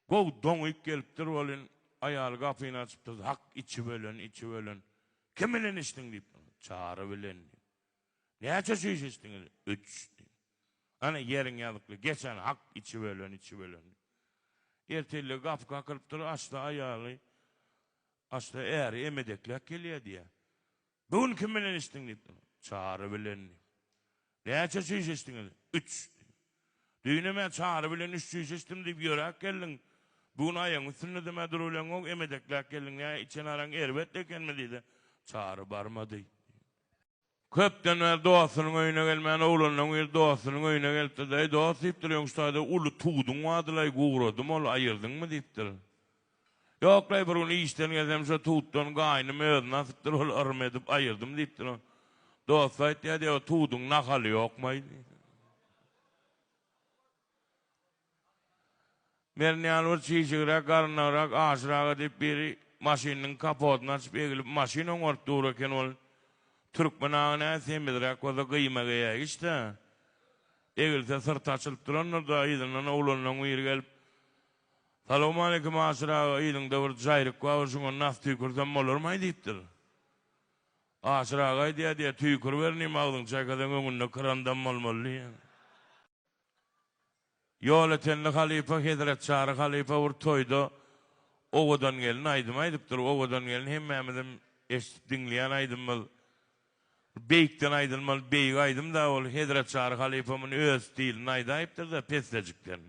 Gowy doňýyk gelipdir welin, aýaly gapyny açyp durdy. Hak, içi bölen, içi bölen. Kim bilen içdiň? diýip. Çary bilen, diýdi. Näçe çüýş içdiňiz? Üç, diýdi. Hany, ýeriň ýazykly, geç hany, hak, içi bölen, içi bölen, diýdi. Ertirligi gapy kakylypdyr, aşda aýaly, aşda äri emedekläp gelýär, diýýär. Bu gün kim bilen içdiň diýip durlar. Çary bilen diýip. Näçe çüýş içdiňiz? Üç diýip. Düýnem-ä Çary bilen üç çüýş içdim diýip ýöräp geldiň. Bu gün aýagyň üstünde-de-ä durubileňok, emedekläp geldiň. Nä, içen araň erbet ekenmi diýdi. Çary barmady diýip. Köpden bäri dostunyň öýüne gelmän, oglanlaň biri dostunyň öýüne gelipdir-de, Eý, dost diýipdir, öňki taýda uly tuduň bardy-laý, gugradym ol, aýyrdyňmy diýipdir. Ýok-laý, bir gün işden gelsem, şo tutdan gaýnym özüni asypdyr, ol yrym edip aýyrdym diýipdir. Oň dosty aýtýar, diýýär, o tuduň nahaly ýokmaý diýýär. Mern ýaly bir çişigräk, garynagrak, aşyraga diýip biri maşynynyň kapotyny açyp egilip maşyn oňaryp dur eken, ol türkmen agy nä semizräk bolsa gyýma geýäýgiç-dä, egilse syrty açylyp durandyr-da, yzyndan oglanlaň biri gelip, Salowmaleýkim Aşyr aga yzyňda bir jaýryk bar şuňa nas tüýkürsem bolarmaý diýipdir. Aşyr aga aýdýa diýýä tüýkürber inim agzyňy çaýkasaň öňünde krandam bolmaly diýýä. Ýoletenli halypa Hezret Çary halypa bir toýda Owadan gelin aýdym aýdypdyr. Owadan gelin hemmämizim eşdip diňleýän aýdymymyz. Beýikden aýdylmaly beýik aýdym-da ol, Hezret Çary halypa muny öz stilinde aýdaýypdyr-da, pessejikden.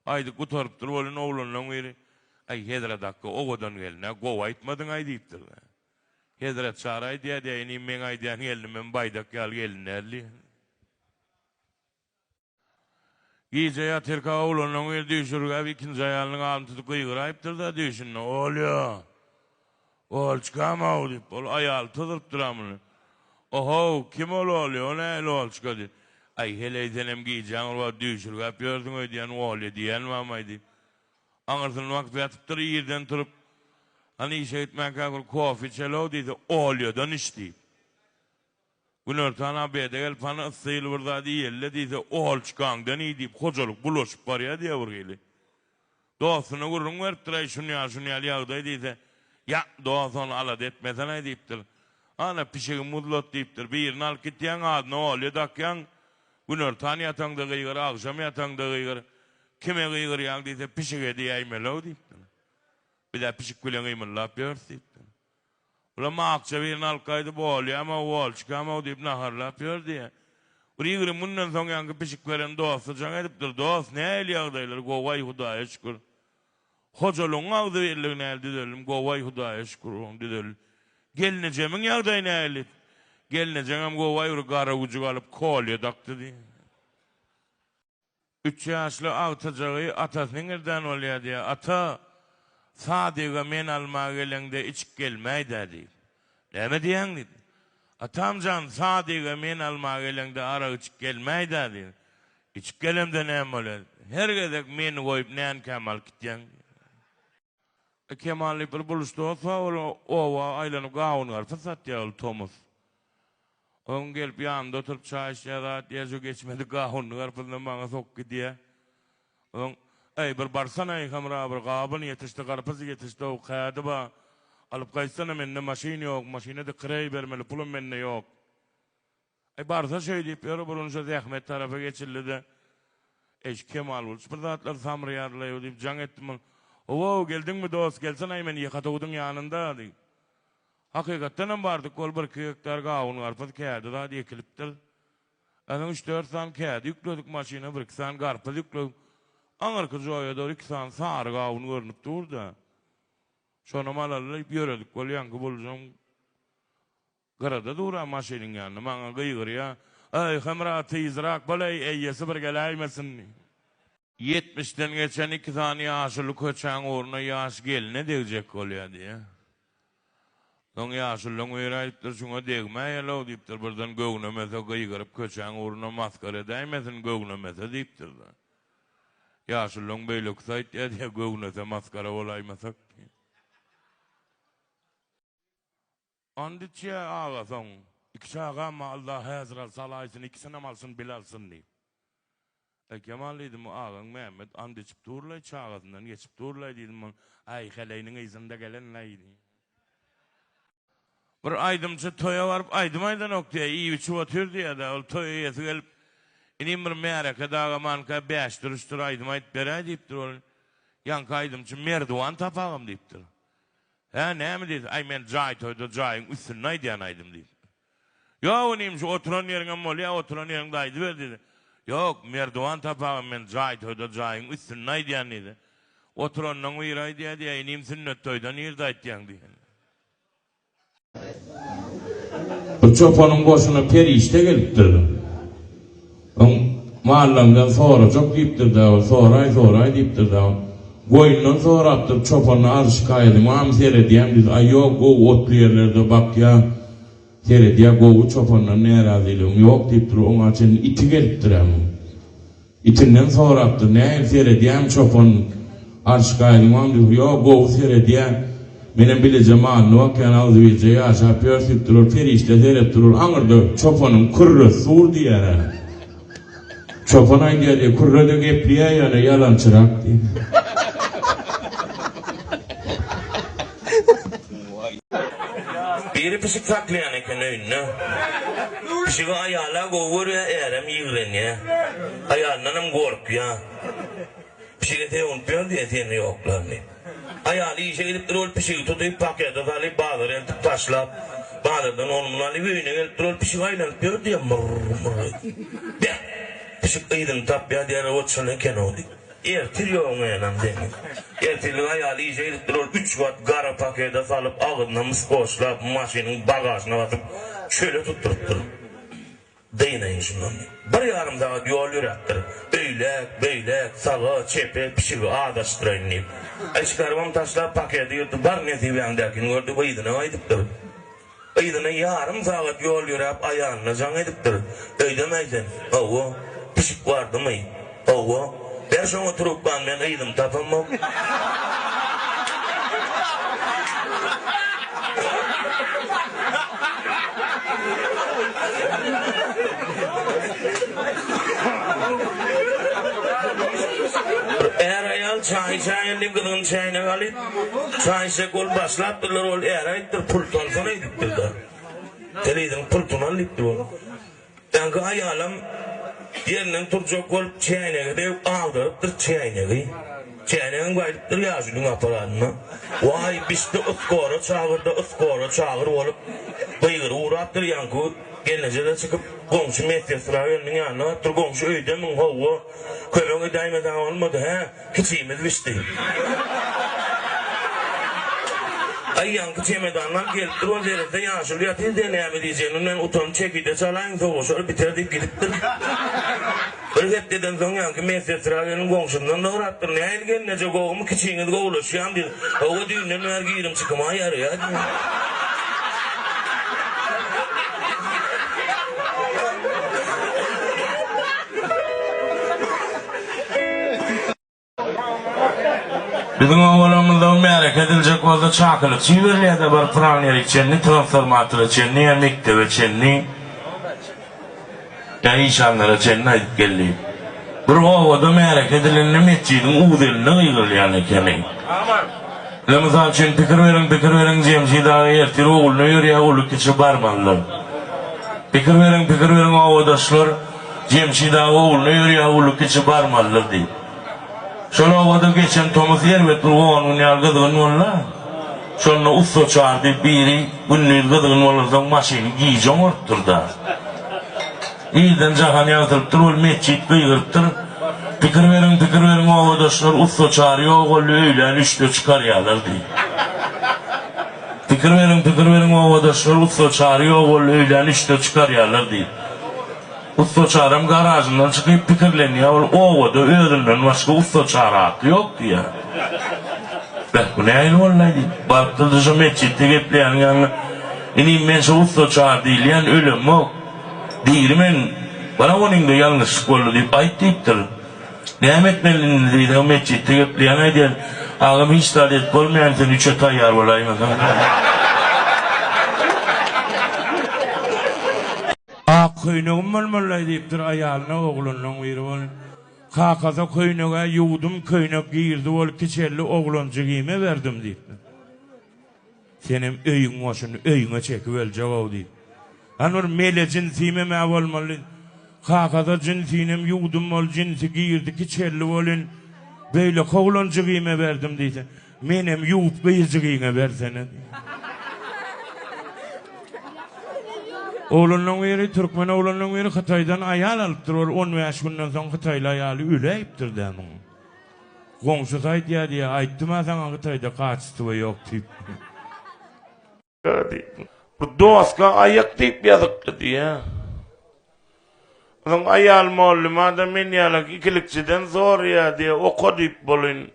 Aýdyp gutarypdyr welin, oglanlaň biri, Aý, Hezret Hakga owadan gelin-ä, gowy aýtmadyň-aý diýipdir-de. Hezret Çary aýdýar-da, Ýa inim, meň aýdýan gelinim hem baýdak ýaly gelin däl diýýär. Gije ýat erkek awlandan gyz düýş ürgäp ikinji aýalynyň adyny tutup gygyraýypdyr-da düýşünde, Olýa! Olçkam-ow! diýip, ol aýaly tyzyrypdyr-a muny. Ohow, kim ol Olýa? O nähili Olçka? diýip. Aý, heleý, senem gijäň bir wagt düýş ürgäp ýörsüň öýdýän Olýa diýýänmem-aý diýip. Aňyrsyn wagt ýatypdyr, irden turup, Hany işe gitmänkä bir kofe içeli-ow diýse, Olýadan iç diýip. Günortan Abede gelip hany yssyl bir zat iýeli-le diýse, Ohal çykaňdan iý diýip hojalyk bulaşyp barýar diýýär bir hili. Dostuna gürrüň beripdir-aý şun ýaly şun ýaly ýagdaý diýse, Ýa, dost ony alada etmesenaý diýipdir. Ana, pişigi muzlat diýipdir. Birini alyp gitýäň, adyna Ohalýa dakýaň. Günortan ýataňda gygyr, agşam ýataňda gygyr. Kime gygyrýaň diýse, pişige diýäýmeli-ow diýipdir. Biz-ä pişik bilen gymyldap ýörüs diýipdir. Olam akja birini alkaýdy bolýamy, bolçkamy-ow diýip naharlap ýördi. Bir ýigrimi günden soň ýaňky pişik beren dosty jaň edipdir, Dost, nähili ýagdaýlar, gowaý, Hudaýa şükür. Hojalygyň agzybirligi nähili, Düzeldim, gowaý, Hudaýa şükür, oglum, düzeldim. Gelnejemiň ýagdaýy nähili? Gelnejeňem gowaý, bir gara güjük alyp, kolýa dakdy diýdi. Üç ýaşly agtyjagy atasynyň irden bolýar diýýär. Ata, Sadyga men alma geleňde içip gelmäý-dä diýip. Näme diýýäň diýip. Atam jan, Sadyga men alma geleňde arak içip gelmäý-dä diýip. Içip gelemde näme bolýar? Her gezek meni goýup nänikäm alyp gitýäň diýýär. Kemaly bir buluş dos-a ol oba aýlanyp gawun-garpyz satýar ol tomus. Onuň gelip ýanynda oturyp çaý içýä zat ýer şu geçmedik gawunyny-garpyzyny maňa sokup gidýä. Oň, Äý, bir barsana-aý, Hemra bir gawun ýetişdi, garpyz ýetişdi-ow, kädi ba, alyp gaýtsana, mende maşyn ýok, maşyna-da kireý bermeli pulum mende ýok. Aý, barsa şeýdip ýör, burunyşa zähmet tarapa geçildi-de, eşik kemal bolup, şu bir zatlar samraýarlaýo diýip jaň etdim ol. Ho-ow, geldiňmi, dost, gelsene-aý men ýyhatawudyň ýanynda, diýip. Hakykatdan hem bardyk, ol birki gektar gawun-garpyz, kädi zat ekilipdir. Ýazyň üç-dört sany kädi ýükledik maşyna, birki sany garpyz ýükledik. Aňyrky joýa dogry iki sany sary gawun görnüp dur-da. Şonam alaly diýip ýöredik, bolýanky bulujam. Gyrada duran maşynyň ýanynda maňa gygyrýar, Eý, Hemra, tizrak bol-eý, eýesi bir geläýmesin diýip. Ýetmişden geçen iki sany ýaşuly köçäň ugruna ýaş gelne degjek bolýar diýýär. Soň ýaşulylaryň biri aýdypdyr, Şuňa degmäýel-ow diýipdir, birden göwnemese gygyryp köçäň ugruna masgara edäýmesin, göwnemese diýipdir-de. Ýaşulylaryň beýlekisi aýtýar diýýär, Göwnese masgara bolaýmasak diýýär. And içýä, aga, soň iki çagam-a Alla häzir al, sal aýsyn, ikisinem alsyn, bile alsyn diýip. Aýkemal diýdim, agaň Mämmet and içip dur-laý, çagasyndan geçip dur-laý diýdim, ol, Aý, heleýiniň yzynda gelen-laý diýip. Bir aýdymçy toýa baryp aýdym aýdanok diýýä, iýip-içip otyr diýýä-dä, ol toý eýesi gelip, Inim, bir märeke daga manka bäş duruşdyr, aýdym aýdyp beräý diýipdir, ol ýaňky aýdymçy, Merdiwan tapagym diýipdir. Hä, näme diýdi? Aý, men jaý toýda jaýyň üstünde aýdýan aýdym diýdi. Ýok, inim, şu oturan ýeriňem bolýa, oturan ýeriňde aýdyber diýdi. Ýok, Merdiwan tapagam men jaý toýda jaýyň üstünde aýdýan diýdi. Oturandan biri aýdýa diýýä, inim, sünnet toýda nirde aýtýaň diýýä. Bu çopanyň goşuna perişde gelipdir. Oň mallaňdan sorajak diýipdir-dä ol, soraý, soraý diýipdir-dä ol. Goýundan sorapdyr, çopandan arz şikaýaty, Mama seredýän biz, aý ýok, gowy otly ýerlerde bakýa, seredýä, gowy, çopandan närazylygyň ýok diýipdir, oňa çenli iti gelipdir-ä muň. Itinden sorapdyr, nähili seredýämi çopan? Arş gaýylmaň dur ýo gowy seredýä menem bileje manyny bakýan agzybirje ýaşap ýör süýp durur perişde serep durur aňyrda çopanyň kürresi sur diýärä çopan aýdýa diýe kürrede gepliýä ýöne ýalançyrak diýip. Biri pişik saklaýan eken öýünde. Pişigi aýala gowy görýä ärem ýigrenýä. Aýalyndanam gorkýa. Pişige sögünip ýör diýen seni ýoklaryny. Aýaly işe gidip dur ol pişigi tutyp pakete salyp bazara eltip taşlap bazardan ony muny alyp öýüne gelip dur ol pişigi aýlanyp ýör diýen murr murr edip. Beh! Pişik yzyny tapýar diýer ot şol ekenow diýip. Ertir ýogyň enam seniň. Ertirlik aýaly işe gidip dur ol üç gat gara pakete salyp agzyna mys goşlap maşynyň bagažyna basyp çöle tutduryp dur. Dynaýyn şundan. Bir ýarym sagat ýol ýöräpdir. Öýläk, beýläk, saga, çepe, pişigi azaşdyraýyn diýip. Eşikarbam taşlap paketi ýyrdy, bar nesibäňdäkini gördi we yzyna gaýdypdyr. Yzyna ýarym sagat ýol ýöräp aýalyna jaň edipdir. Öýdemäý sen. Hawa, pişik bardymy? Howwa, ber şoňa trubkany men yzymy tapamok. Bir är-aýal çaý içäýen diýip gyzgyny çäýnegi alyp, çaý içjek bolup başlapdyrlar, ol är aýdypdyr, pul salsana, diýipdir-de. Sen yzyňy pul tuman, diýipdir ol. Daňky aýalam ýerinden turjak bolup çäýnegi döwüp agdarypdyr çäýnegi. Çäýnegem gaýdypdyr ýaşulyň aparanyna. Waý, bişdi yskora çagyr-da, yskora çagyr bolup, gygyry urapdyr. Ýaňky gelneje-de çykyp, goňşy medsestra gelniň ýanyna barypdyr. Goňşy öýdemiň, howwa, kömek edäýmeseň bolmady, hä? Kiçimiz bişdi. Aýýamky çemedanlar gelip dur ol derede ýaşuly ýatyr diýen näme diýjegini bilmän utanç çekide çalaýyň sowaşar biter diýip gidipdir. Bir hepdeden soň ýaňky medsetra gelin goňşymdan sorapdyr nähili gelneje gowumy kiçiňiz gowulaşýamy diýip Hawa düýnden bäri girim çykyma ýaraýar diýen. Biziň obalarymyzda märeke ediljek bolsa çakylyk çiberilýärde bir pylan ýeri çenli transformatora çenli ýa mekdebe çenli ýa işanlara çenli aýdyp geldi. Bir obada märeke edilende metjidiň uzeline gygyrylýan ekeni. Ine mysal üçin pikir beriň pikir beriň Jemşid aga ertir ogluna ýörýä uly kiçi barmalydyr. Pikir beriň pikir beriň obadaşlar Jemşid aga ogluna ýörýär uly kiçi barmalydyr diýip. Şol obada geçen tomus erbet bir on gün ýaly gyzgyn boldy. Şonda ussa çar diýip biri gündiz gyzgyn bolansoň maşyny gije oňartdyr-da. Irden jahan ýagtylypdyr ol metjit gygyrypdyr. Pikir beriň pikir beriň obadaşlar ussa çar ýok boldy öýlän üçde çykarýalar diýip. Pikir beriň, pikir beriň obadaşlar, ussa Çary ýok boldy, öýlän üçde çykarýarlar diýip. Ussa Çaram garažyndan çykyp pikirlenýär, ol obada özünden başga ussa Çary atly ýok diýýär. Beh, bu nähili boldaý diýip, barypdyr-da şo metjitde gepleýäniň ýanyna, Inim, men şo ussa Çary diýilýän ölemok. Diýgili men, Bana onyňda ýalňyşlyk boldy diýip aýt diýipdir. Näme etmeli indi diýseň metjitde gepleýäň aýdýan agam hiç zat edip bolmaýan sen üçe taýýar bolaýmasaň diýýän. Ak köýnegim bolmalylaý diýipdir aýalyna oglanlaň biri bol kakasa köýnegä ýuwdum köýnek girdi bol kiçeldi oglanjy giýme berdim diýipdir. Senem öýüň goşuny öýüňe çekip öljegow diýip. Hany bir mele jinsimem-ä bolmaly. Kakaza jinsinem ýuwdum bol jinsi girdi ki çelli bolyn. Beýleki oglanjygyme berdim diýse. Menem ýuwup gyzjygyňa bersene diýip. Oglanlaň biri türkmen oglanlaň biri hytaýdan aýal alypdyr ol on bäş günden soň hytaýly aýaly öläýipdir-dä muň. Goňşusy aýdýar diýýär, aýtdym-a saňa Hytaýda kaçestwo ýok diýip. Gara diýip, bu doska aýak diýip ýazypdy diýýär. Onuň aýal mollymada men ýalak ikilikçiden soraýar diýýär, oka diýip bolyn.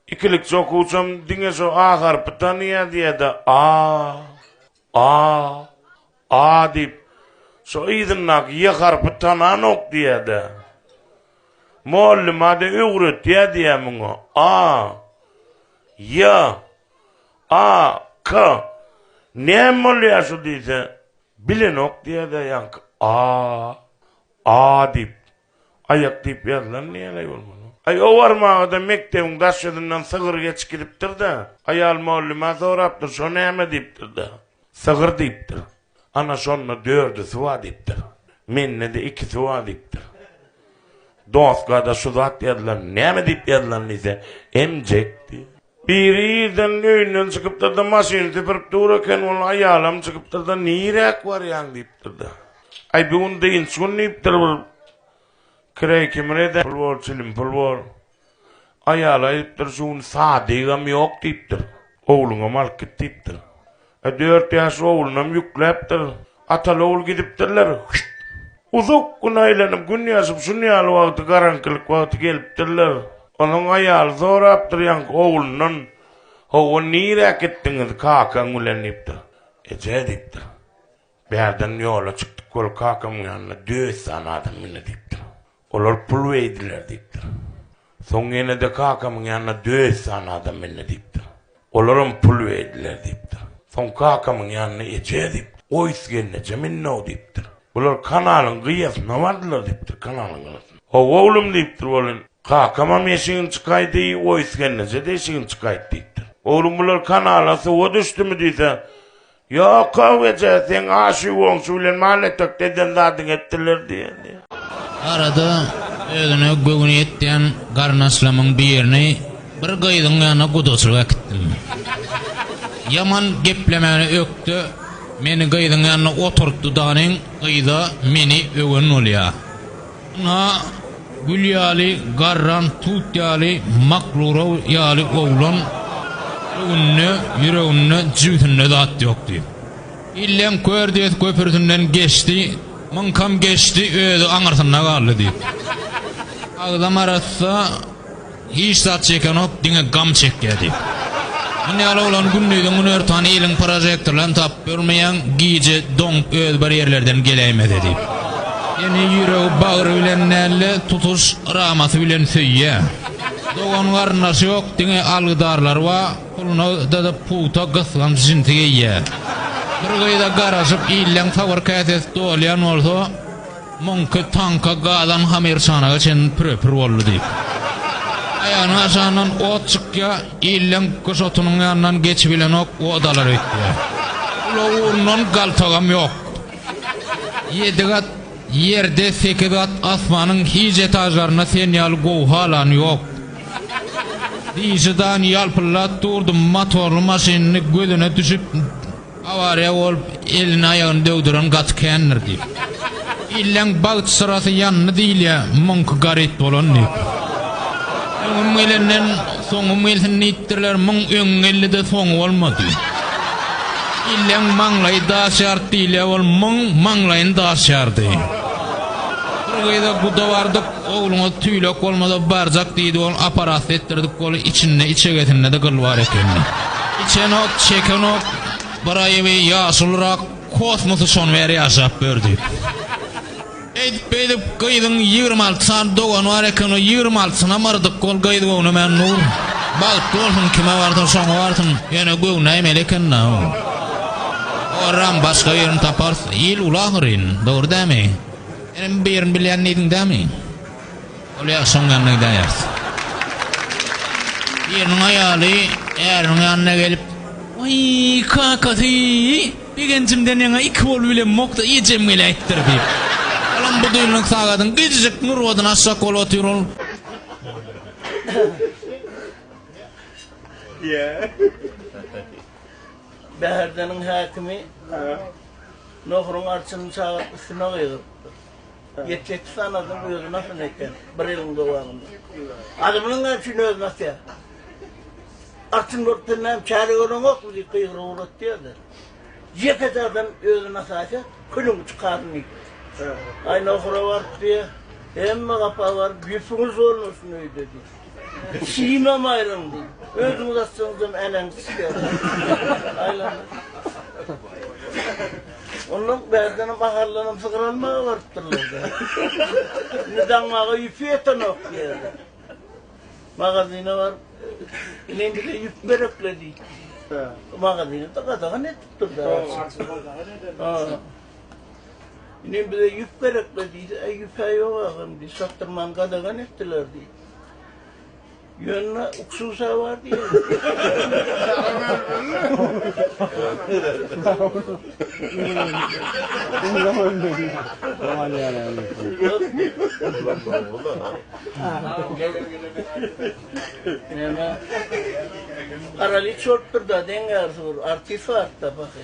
Ikilikçi okuwçam diňe şu A harpy tanaýa-diýä-de, A, A, A diýip, şo yzyndaky Y harpy tananok diýä-de. Mugallym-a-da öwretýä-diýä muňa, A, Y, A, K. Näme bolýa şu diýse, bilenok diýä-de ýaňky A, A diýip. Aýak diýip ýazylan näleý bolmaly? Aý, owarmaga-da mekdebiň daş ýüzünden sygyr geçip gidipdir-de, aýal mugallymä sorapdyr, şo näme diýipdir-de, sygyr diýipdir. Ana, şonda dördüsi bar diýipdir. Mende-de ikisi bar diýipdir. Doska-da şu zat ýazylan, näme diýip ýazylan diýse, emjek diýip. Biri irden öýünden çykypdyr-da, maşyny süpürip dur eken, ol aýalam çykypdyr-da, Niräk barýaň? diýipdir-de. Aý, bu gün dynç gün diýipdir, bir kireý kimin eden pul bor, çilim pul bor. Aýaly aýdypdyr, şu gün sadygam ýok diýipdir. Ogluňam alyp git diýipdir. E dört ýaşly oglunam ýükläpdir. Ataly-ogul gidipdirler. Hüýt! Uzak gün aýlanyp, gün ýaşyp, şun ýaly wagty, garaňkylyk wagty gelipdirler. Onuň aýaly sorapdyr ýaňky oglundan, Hawa, nirä gitdiňiz kakaň bilen? diýipdir. Eje, diýipdir. Bärden ýola çykdyk, ol kakamyň ýanyna Döwüsjan adam mindi diýipdir. Olar pul beýdiler diýipdir. Soň ýene-de kakamyň ýanyna döet sany adam mende diýipdir. Olaram pul beýdiler diýipdir. Soň kakamyň ýanyna eje diýip, oýs gelneje minnow diýipdir. Bular kanalyň gyýasyna bardylar diýipdir, kanalyň gyrasyn. Hawa oglum diýipdir, welin, kakamam eşigini çykaýdy, oýs gelneje-de eşigini çykaýdy diýipdir. Oglum bular kanala suwa düşdümi diýse, Ýok-ow eje, seň aşy-goňşy bilen mal-etekde eden zadyň etdiler diýeni. Arada özüne göwni ýetýän garyndaşlarymyň birini bir gyzyň ýanyna gudaçylyk äkitdim. Ýaman geplemäni ökde meni gyzyň ýanyna oturtdy danyň, gyz-a meni öwen bolýa. Ynha, gül ýaly garran tut ýaly Maklura ýaly oglan öňünde, ýüreginde, jübüsinde zat ýokdy. Illeň kör diýesi köpürsinden geçdi, myňkam geçdi, özi aňyrsynda galdy diýip. Agzam arassa. Hiç zat çekenok, diňe gam çekýär diýip. Muny ýaly oglan gündiziň günortan iliň prožektorlaryny tapyp bilmeýäň, gije doňup özi bir ýerlerden geläýmez-ä diýip. Seni ýüregi bagry bilen däl-de, tutuş ramasy bilen söýýär. Dogan-garyndaşy ýok, diňe algydarlary bar, puluna dyzyp pugta gysganç jinsi geýýär. Bir gyza garaşyp, illeň sabyr käsesi dolýan bolsa. Muňky taňka galan hamerçanaga çen püre-pür boldy diýip. Aýagynyň aşagyndan ot çykýar, illeň gyş otunyň ýanyndan geçip bilenok, odalar öýtýär. Ulag ugrundan galtagam ýok. Ýedi gat Ýerde, sekiz gat asmanyň hiç etažlarynda sen ýaly gowy halany ýok. Diýşi dan ýalpyldap durdy, motorly maşynyny gözüne düşüp, Awariýa bolup, elini-aýagyny döwdüren gaty kändir diýip. Illeň bagt syrasy ýandy diýilýär, muňky garyp bolan diýip. Öňüm gelenden, soňum gelsin diýipdirler, muň öňi geldi-de, soňy bolmady. Illeň maňlaýy daş ýardy diýilýär, ol muň maňlaýyny daş ýardy. Bir gyza guda bardyk. Ogluňyz tüýlek bolmasa barjak diýdi ol aparatda etdirdik bol içinde içegesindede gyl bar ekeni. Içenok çekenok bir aýyby ýaşulyrak kosmosy şon bäri ýaşap bördi. Eýdip beýdip gyzyň ýigrimi alty sany dogany bar eken o ýigrimi altysynam yrdyk ol gyz göwnemän dur. Bagtly bolsun kime barsa şoňa barsyn ýöne göwnäýmeli ekenda o. Orram başga birini taparys il uly ahyryn dogry dämi. Inem birini bilýän diýdiň dämi? Ol ýagşy oň ýanyna gidäýýäris. Biriniň aýaly äriniň ýanyna gelip. Waý, kakasy, begenjimden ýaňa iki bolup bilemmok-da, ejem geläýipdir, diýip. Olam budilnik sagadyň gijijik nurbadyny açjak bolup otyr, ol. Bäherdeniň häkimi. Nohuryň arçynyny çagyryp üstüne gygyrypdyr. Get getir sanadyň özüni asyn eken, bir eliň dowamynda. Adamynyň näçüýn özüni asýar? Arçyn bolup sen näme çäre göreňokmy diýip gygyryp ugratýardy. Ýekeje adam özüni asaýsa, külüňi çykaryn diýipdi. Aý nohura baryp diýýär, hemme gapa baryp ýüpüňiz bolmasyn öýde diýýär. Şimem aýryldy. Özüňiz atsaňyzam äneňiz çykýar. Ondan bärdenem ahallanam sygyr almaga barypdyrlar-da. Indi daňmaga ýüpi ýetenok diýýärler. Magazyna baryp, ine indi bize ýüp gerekle diýdi. Magazyny-da gadagan edipdir-de. Ine bize ýüp gerekli diýdi. Äý ýüp-ä ýok agam diýdi. Satdyrman gadagan etdiler diýdi. Ýöne uksusa bar diýdi. Neme? Garaly çortdur da deň ýarsy bir artist bar da baky.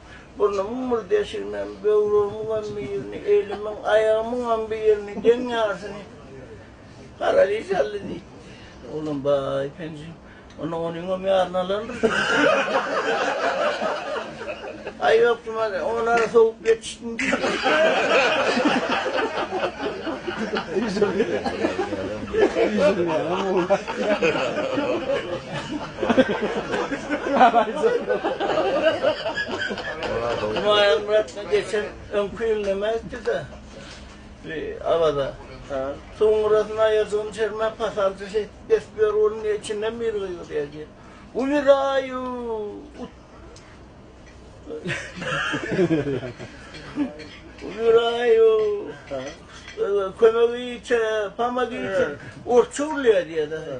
Burnumyň bir deşiginem, böwregimiňem bir ýerini, elimiň, aýagymyňam bir ýerini, deň ýarsyny garaliý saldy diýdi. Oglan, Baý, penji, onda onuňam ýaryny alarmyş? Aý, ýok, Jumaly, oňa-da sowup ýetişdim diýdi. Humaýun Myratly geçen öňki ýyl näme etdi-de, bi Awaza? Hä? Soňrasyn aýajygyny içermän pasalçy şeýdip kesip ýör, ony niýe içinden bir gygyrýar diýip. Umirayuu! Ut! Umirayuu! Hä? Kömegiçe, pamagiçe, orsça urýar diýýär-de.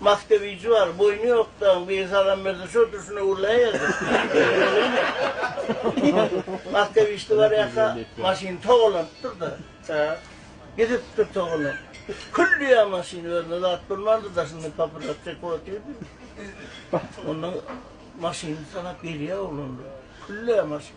Maskewiji bar, boýny ýok dagyň biri salam berse şo durşuna urlaýerdi. Maskewiçde bar ýaka maşyny togalanypdyr-da. Hä. Gidipdir togalanyp. Külliýa maşyny özüne zat bolmandyr daşyndan papiros çekip otyrdy. Onda maşyny sanap gelýär oglanlar. Külliýa maşyn.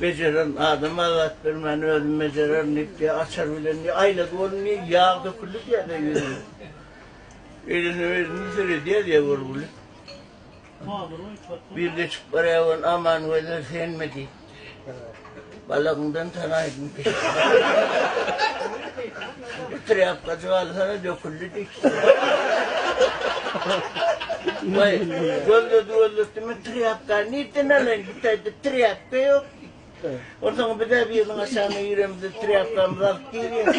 Bejererin, adama zat bermän özüm bejererin diýip, diýýär, açar bilen diýýär, aýlady onuň diýýär, ýag döküldi diýýär, diýýär, ýüzüne. Elini özüni süredýär diýýär görgüli. Bir geçip barýar ony, Aman gözel, senmi diýip. Balagyňdan tanaýdym. Şuňky trýapkajyk alsana döküldi diýipdir. Waý, gözledi gözletdi, men trýapkany nirden alaýyn, git aýdyp trýapka ýok diýdi. Onsoň bizä biriniň aşagyna giremizde trýapkamyzy alyp girýäs.